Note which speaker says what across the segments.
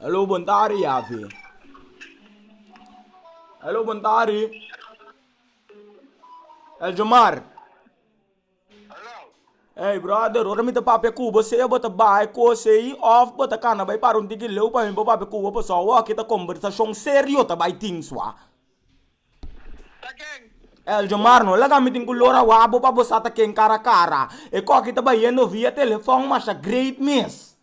Speaker 1: E lo bontari Yahvé. E lo bontari El Jomar. Hey brother, ora mi ta papia ku bo se bo ta bai kosei of bo ta kana bai para un tiki leu pa mi bo papia ku bo paso awor kita kombersashon serio ta bai tin swa. El jomar no laga mi tin ku lora wak bo pa bo sa ta ken kara kara. E koki ta bayendo via telefon masha great mes.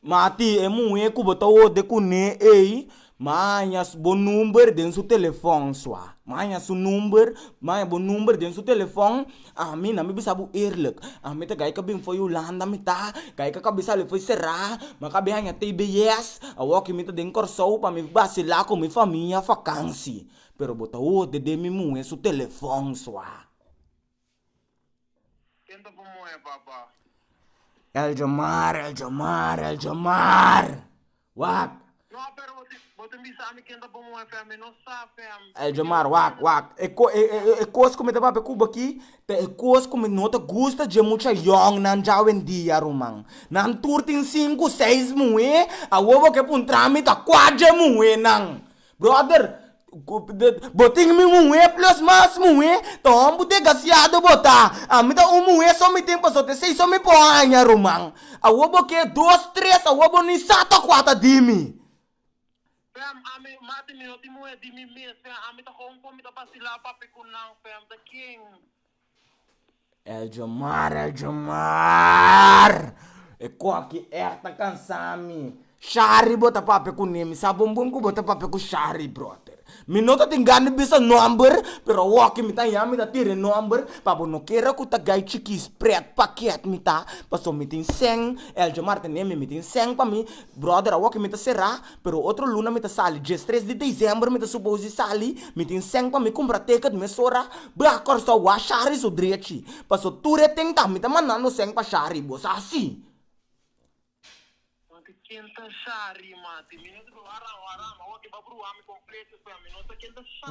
Speaker 1: Mati e muhe ku bo ta worde kune ei maña bo number den su telefon sua. Maña su number maña bo number den su telefon. Ami na mi bisa bo eerlijk, ami ta gaika bin fo'i Hulanda mi ta gaika ka bisa le fo'i será, ma ka bin haña tbs, awor ki mi ta den Kòrsou pa mi basila ku mi famia fakansi, pero bo ta horde den mi muhé su telefòn sua. Ken ta bo muhé, papa? El jamar, el jamar, el jamar! Wak! No, pero bo tin, bo tin bisa ami ken ta bon un FM, mi no sa FM. El djamar, wak, wak. E ko, e, e, e kos ku mi ta papia ku bo aki, ta e kos ku mi no ta gusta dje mucha yòngnan djawendia, ruman. Nan tur tin sinku, seis muhé, awor bo ke puntra mi ta kua dje muhénan! Brother bo tin mi muhe plus mas muhe ta hombu degasiado bo ta a mi ta un muhe so mi tin paso te seiso mi por haña ruman awo bo ke dos tres awo bo ni sa ta kua ta di mi. Fem, ami mati mi no tin muhe di mi mes fem ami ta kon kon mi ta basila papi ku nan fem ta kin. El djamar, el djamar, e koki echt ta kansa mi, Shari bo ta papia ku ne, mi sa bon bon ku bo ta papia ku Shari brother, mi no ta tin gan di bisa nomber pero awor ku mi ta ya mi ta tira e nomber pa bo no kere ku ta gai chikis pret pakiet mi ta pasobra mi tin sèn, el djamar ta neme mi tin sèn pa mi brother awor ku mi ta sera. Pero otro luna mi ta sali, diestres di diciember mi ta supos di sali, mi tin seng pa mi cumpra ticket mesora, bra Corso wou a shari su drechi, paso tur e tenta mi ta mandando seng pa shari, bo sa si. Mati ken ta shari mati, mi no ta brua rama rama, oke ba brua mi completo.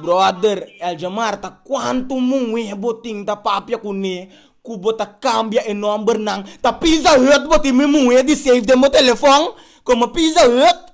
Speaker 1: Brother Elja Marta cuanto muhe bo tin ta papia cu ne cu bo ta cambia e number nan ta pizza hut bo tin mi muhe di save den bo telefon como pizza hut.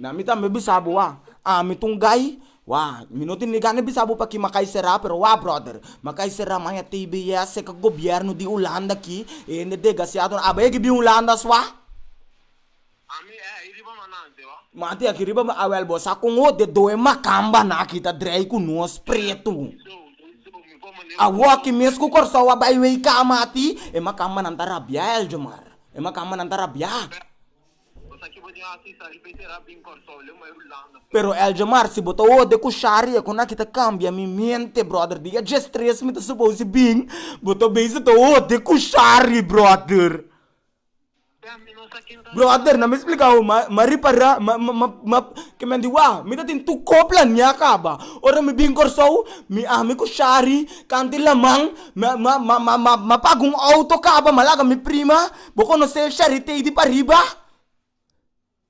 Speaker 1: Na mi tambe bisa bo wah. Ami ta un gai wah. Mi no tin ni gana di bisa bo pa ki Makai sera, pero wah brother, Makai sera maña tbs e ka gobierno di Hulanda aki, e hende degasiado, abo e ki bin Hulanda as wah? Ami e aki riba manante wah. Manti aki riba ma, awel bo sa con ho de doe makambanan aki ta drei cu nos pretu. Awo aki mes cu Corsou a bai wey cama ti, e makambanan ta rabia Eljomar, e makambanan ta rabia. Pero Eljamar si bo ta oda ku Shari e konaki ta kambia mi miente brother di dje stres mi ta suposi bin bo ta bisa ta oda ku Shari brother brother na mi explica ho ma ripara ma kimen di wak mi ta tin tur ko plania kaba ora mi bin Kòrsou mi ami ku Shari kantu laman ma paga un auto kaba ma laga mi prima Bo conoce Charitey di pariba?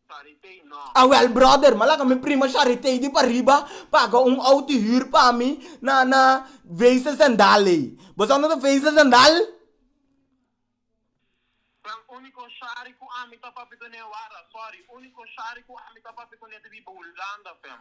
Speaker 1: Charitey no. A wel brother, ma laga mi prima Charitey di pariba paga un auto huur pa mi na na Wezen Zendal ey. Bo sa unde ta Wezen Zendal? Fran, Unico Chari cu ami ta papia cu ne, wara, sorry, Unico Chari cu ami ta papia cu ne ta biba Hulanda, Fran.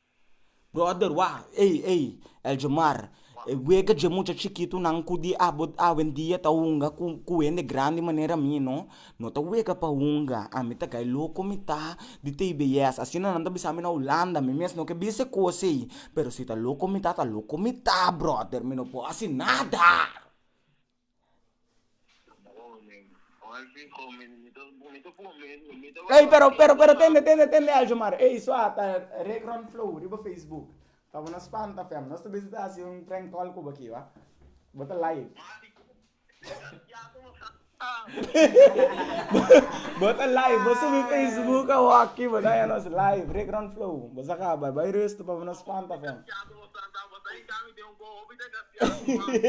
Speaker 1: Brother wak ey ey Eldjomar e wega dje mucha chikitunan ku di abo awendia ta hunga ku ku hende grandi manera mi no no ta wega pa hunga ami ta kay loko mi ta di tbs asina nan ta bisami na hulanda mi mes no ke bisa e kos ey pero si ta loko mi ta ta loko mi ta brother mi no por hasi nada. Ey pero pero pero tende tende tende algo mara ey so a ta regron flow riba facebook pa bo no spanta fem nos ta bisa ta hasi un prank call cu bo aki oa bo ta live bo ta live bo subi facebook awoki bo daña nos live regron flow bo sa caba bay rustu pa bo no spanta fem.